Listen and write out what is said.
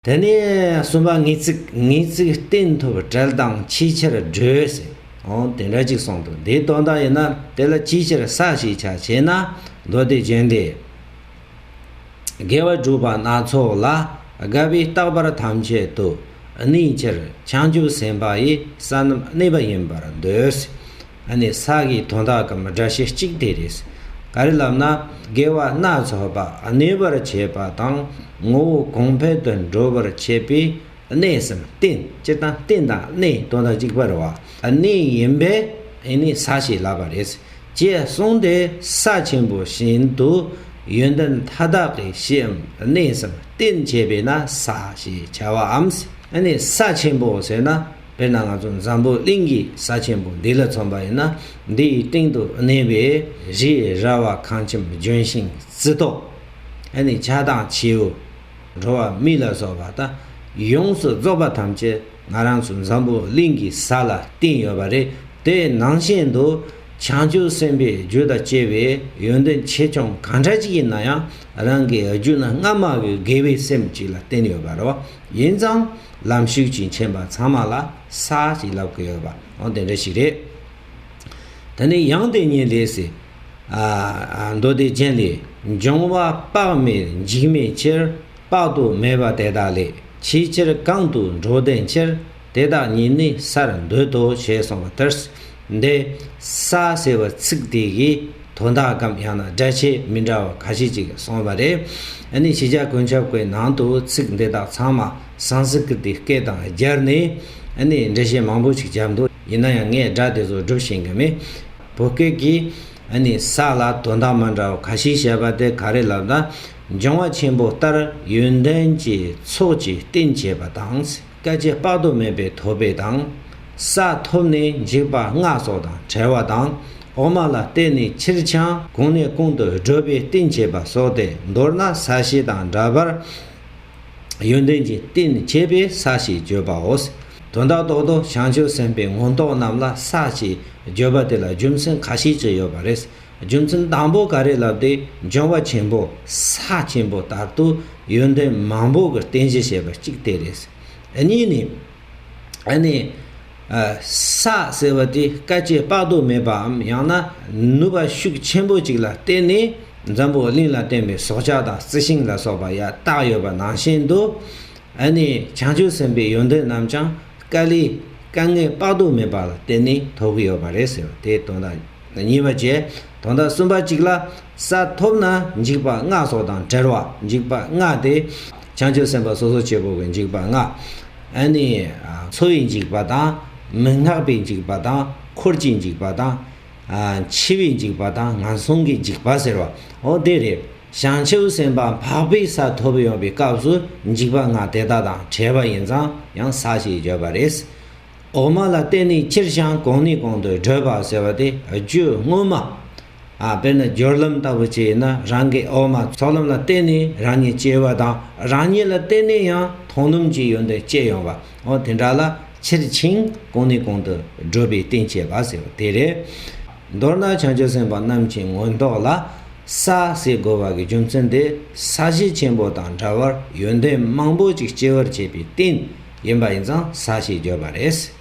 དེ་ནས་གསུམ་པ་ངེས་ཚིག་ངེས་ཚིག་གཏན་ཐོབ་བྲལ་དང་ཕྱིས་ཕྱིར་བགྲོད་ཟེར་ཨོ་དེ་འདྲ་ཅིག་གསུངས་འདུག་འདིའི་དོན་དག་ཡིན་ན་དེ་ལ་ཅིའི་ཕྱིར་ས་ཞེས་བྱ་ཞེ་ན་མདོ་སྡེ་བྱོན་ཏེ། དགེ་བ་སྒྲུབ་པ་སྣ་ཚོགས་ལ་དགའ་བའི་རྟག་པར་ཐམས་ཅད་དུ་གནས་ཕྱིར་བྱང་ཆུབ་སེམས་དཔའ་ཡི་ས་རྣམས་གནས་པ་ཡིན་པར་འདོད། ཨ་ནི་ས་གའི་དོན་དག་གམ་སྒྲ་བཤད་གཅིག་དེ་རེད། ག་རེ་ལབ་ན་དགེ་བ་སྣ་ཚོགས་པ་གནས་པར་བྱེད་པ་དང་ངོ་བོ་གོང་འཕེལ་དུ་འགྲོ་བར་བྱེད་པས་གནས་སམ་རྟེན་སྤྱི་དང་རྟེན་དང་གནས་དོན་དག་གཅིག་པར་བ་གནས་ཡིན་པས་ཨེ་ནི་ས་ཞེས་ལབ་པ་རེད། ཅེས་གསུངས་ཏེ་ས་ཆེན་པོ་བཞིན་དུ་ཡོན་ཏན་མཐའ་དག་གི་གཞིའམ་གནས་སམ་རྟེན་བྱེད་པས་ན་ས་ཞེས་བྱ་བའམ། ཨེ་ནི་ས་ཆེན་པོ་ཟེར་ན། དཔེར་ན་ང་ཚོ་འཛམ་བུ་གླིང་གི་ས་ཆེན་པོ་འདི་ལ་མཚོན་པ་ཡིན་ན་འདི་ཡི་སྟེང་དུ་གནས་པའི་རི་ཡི་ར་བ་ཁང་ཁྱིམ་ལྗོན་ཤིང་རྩི་ཏོག། ཡང་ནི་བྱ་དང་བྱེའུ། འགྲོ་བ་མི་ལ་སོགས་པ་དང་ཡོངས་སུ་རྫོགས་པ་ཐམས་ཅད་ང་རང་ཚོ་འཛམ་བུ་གླིང་གི་ས་ལ་བསྟིམས་ཡོད་པ་རེད་དེ་ནང་བཞིན་དུ་བྱང་ཆུབ་སེམས་དཔའི་རྒྱུ་དང་བཅས་པའི་ཡོན་ཏན་ཆེ་ཆུང་གང་འདྲ་ཞིག་ཡིན་ན་ཡང་རང་གི་རྒྱུ་ན་སྔ་མ་བའི་དགེ་བའི་སེམས་གཅིག་ལ་བརྟེན་ཡོད་པ་རེད། ཡིན་ཙང། ལམ་ཞུགས་ཀྱི་མཁྱེན་པ་ཚང་མ་ལ་ས་ཞིག་ལབ་དགོས་ཡོད་པའང་དེ་འདྲ་ཞིག་རེད། ད་ནི་ཡང་དེ་ཉིད་ལས་སྲིད། མདོ་སྡེ་རྒྱན་ལས། འབྱུང་བ་དཔག་མེད་འཇིགས་མེད་ཕྱིར། དཔག་ཏུ་མེད་པ་དེ་དག་ལས། ཅིའི་ཕྱིར་གང་དུ་འགྲོ་ལྡན་ཕྱིར། དེ་དག་ཉིད་ནི་སར་འདོད་དོ་ཞེས་གསུངས་པ་ལྟར། འདི་ས་ཟེར་བ་ཚིག་དེ་ཡི་དོན་དག་གམ་ཡང་ན་སྒྲ་ཆས་མི་འདྲ་བ་ག་ཤེད་ཅིག་གསུངས་པ་རེད། འདི་ནི་ཕྱི་རྒྱལ་གོན་ཆབ་ཀའི་ནང་དུ་ཚིག་འདི་དག་ཚང་མ་སང་སི་ཀི་ཏི་སྐད་དང་སྦྱར་ནས་འདྲི་བཤད་མང་པོ་ཞིག་བརྒྱབ་འདུག་ཡིན་ན་ཡང་ངས་སྒྲ་དེ་ཚོ་སྒྲུབ་བཞིན་གི་མེད། བོད་སྐད་ཀྱིས་ས་ལ་དོན་དག་མ་འདྲ་བ་ག་ཤེད་བཤད་པ་དེ་ག་རེ་ལབ་ན་འབྱུང་བ་ཆེན་པོ་ལྟར་ཡོན་ཏན་གྱི་ཚོགས་ཀྱིས་བསྟེན་བྱས་པ་དང། སྐད་ཅིག་དཔག་ཏུ་མེད་པའི་ཐོད་པའི་དང། ས་ཐོབ་ནས་འཇིགས་པ་ལྔ་སོགས་དང་བྲལ་བ་དང། འོག་མ་ལ་བརྟེན་ནས་ཕྱིར་འཆང་གང་ནས་གང་དུ་བགྲོད་པའི་རྟེན་བྱེད་པ་སོགས་ཏེ་མདོར་ན་ས་གཞི་དང་འདྲ་བར། ཡོན་ཏན་གྱི་རྟེན་བྱེད་པའི་ས་ཞེས་བརྗོད་པའོ། དོན་དག་རྟོགས་དང་བྱང་ཆུབ་སེམས་དཔའི་མངོན་རྟོགས་རྣམས་ལ་ས་ཞེས་བརྗོད་པ་དེ་ལ་རྒྱུ་མཚན་ག་ཤེད་ཅིག་ཡོད་པ་རེད། རྒྱུ་མཚན་དང་པོ་ག་རེ་ལབ་དེ་འབྱུང་བ་ཆེན་པོ་ས་ཆེན་པོ་དག་ཏུ་ཡོན་ཏན་མང་པོ་གི་རྟེན་གཞི་བྱེད་པ་གཅིག་དེ་རེད། གཉིས་ནི། ཨ་ནི། ས་ཟེར་བ་དེ་དཀའ་སྤྱད་དཔག་ཏུ་མེད་པའམ་ཡང་ན་ནུས་པ་ཤུགས་ཆེན་པོ་ཅིག་ལ་བརྟེན་ནས་འཛམ་བུ་གླིང་ལ་བརྟེན་པའི་སྲོག་ཆགས་དང་རྩི་ཤིང་ལ་སོགས་པ་ཡང་དག་ཡོད་པ་ནང་བཞིན་དུ། ཨ་ནི་བྱང་ཆུབ་སེམས་དཔའི་ཡོན་ཏན་རྣམས་ཀྱང་དཀའ་ལས་དཀའ་ངལ་དཔག་ཏུ་མེད་པ་ལ་བརྟེན་ནས་ཐོབ་ཀྱི་ཡོད་པ་རེད་ཟེར་བ་དེའི་དོན་དང། གཉིས་པ་བཅས་དང་དང་གསུམ་པ་གཅིག་ལ། ས་ཐོབ་ན་འཇིགས་པ་ལྔ་སོགས་དང་བྲལ་བ་འཇིགས་པ་ལྔ་སྟེ། བྱང་ཆུབ་སེམས་དཔའ་སོ་སོ་བྱེད་པོ་གི་འཇིགས་པ་ལྔ། ནི། འཚོ་བའི་འཇིགས་པ་དང། མི་སྔགས་པའི་འཇིགས་པ་དང། འཁོར་གྱི་འཇིགས་པ་དང། འཆི་བའི་འཇིགས་པ་དང་ངན་སོང་གི་འཇིགས་པ་ཟེར་བ། འོ་དེ་རེད། བྱང་ཆུབ་སེམས་དཔའ་འཕགས་པའི་ས་ཐོབ་ཡོང་བའི་སྐབས་སུ་འཇིགས་པ་ལྔ་དེ་དག་དང་བྲལ་བ་ཡིན་ཙང་ཡང་ས་ཞེས་བརྗོད་པ་རེད། འོག་མ་ལ་བརྟེན་ནས་ཁྱེར་བྱང་གོང་ནས་གོང་དུ་བགྲོད་པ་ཟེར་བ་དེ་རྒྱུད་སྔོན་མ། དཔེར་ན་སྦྱོར་ལམ་ལྟ་བུ་བྱས་ན་རང་གི་འོག་མ་ཚོགས་ལམ་ལ་བརྟེན་ནས་རང་ཉིད་སྐྱེ་བ་དང་རང་ཉིད་ལ་བརྟེན་ནས་ཡང་མཐོང་སྣོམ་གྱི་ཡོན་ཏན་སྐྱེ་ཡོང་བ་འོ་དེ་འདྲ་ལ་ཁྱེར་བྱིངས་གོང་ནས་གོང་དུ་བགྲོད་པའི་རྟེན་བྱེད་པ་ཟེར་བ་དེ་རེད། མདོར་ན་བྱང་ཆུབ་སེམས་དཔའ་རྣམས་ཀྱི་མངོན་རྟོགས་ལ། ས་ཞེས་བསྒོ་བ་གྱི་རྒྱུ་མཚན་དེ་ས་གཞི་ཆེན་པོ་དང་འདྲ་བར་ཡོན་ཏན་མང་པོ་ཅིག་སྐྱེ་བར་བྱེད་པའི་རྟེན་ཡིན་པ་ཡིན་ཙང་ས་ཞེས་བརྗོད་པ་རེད།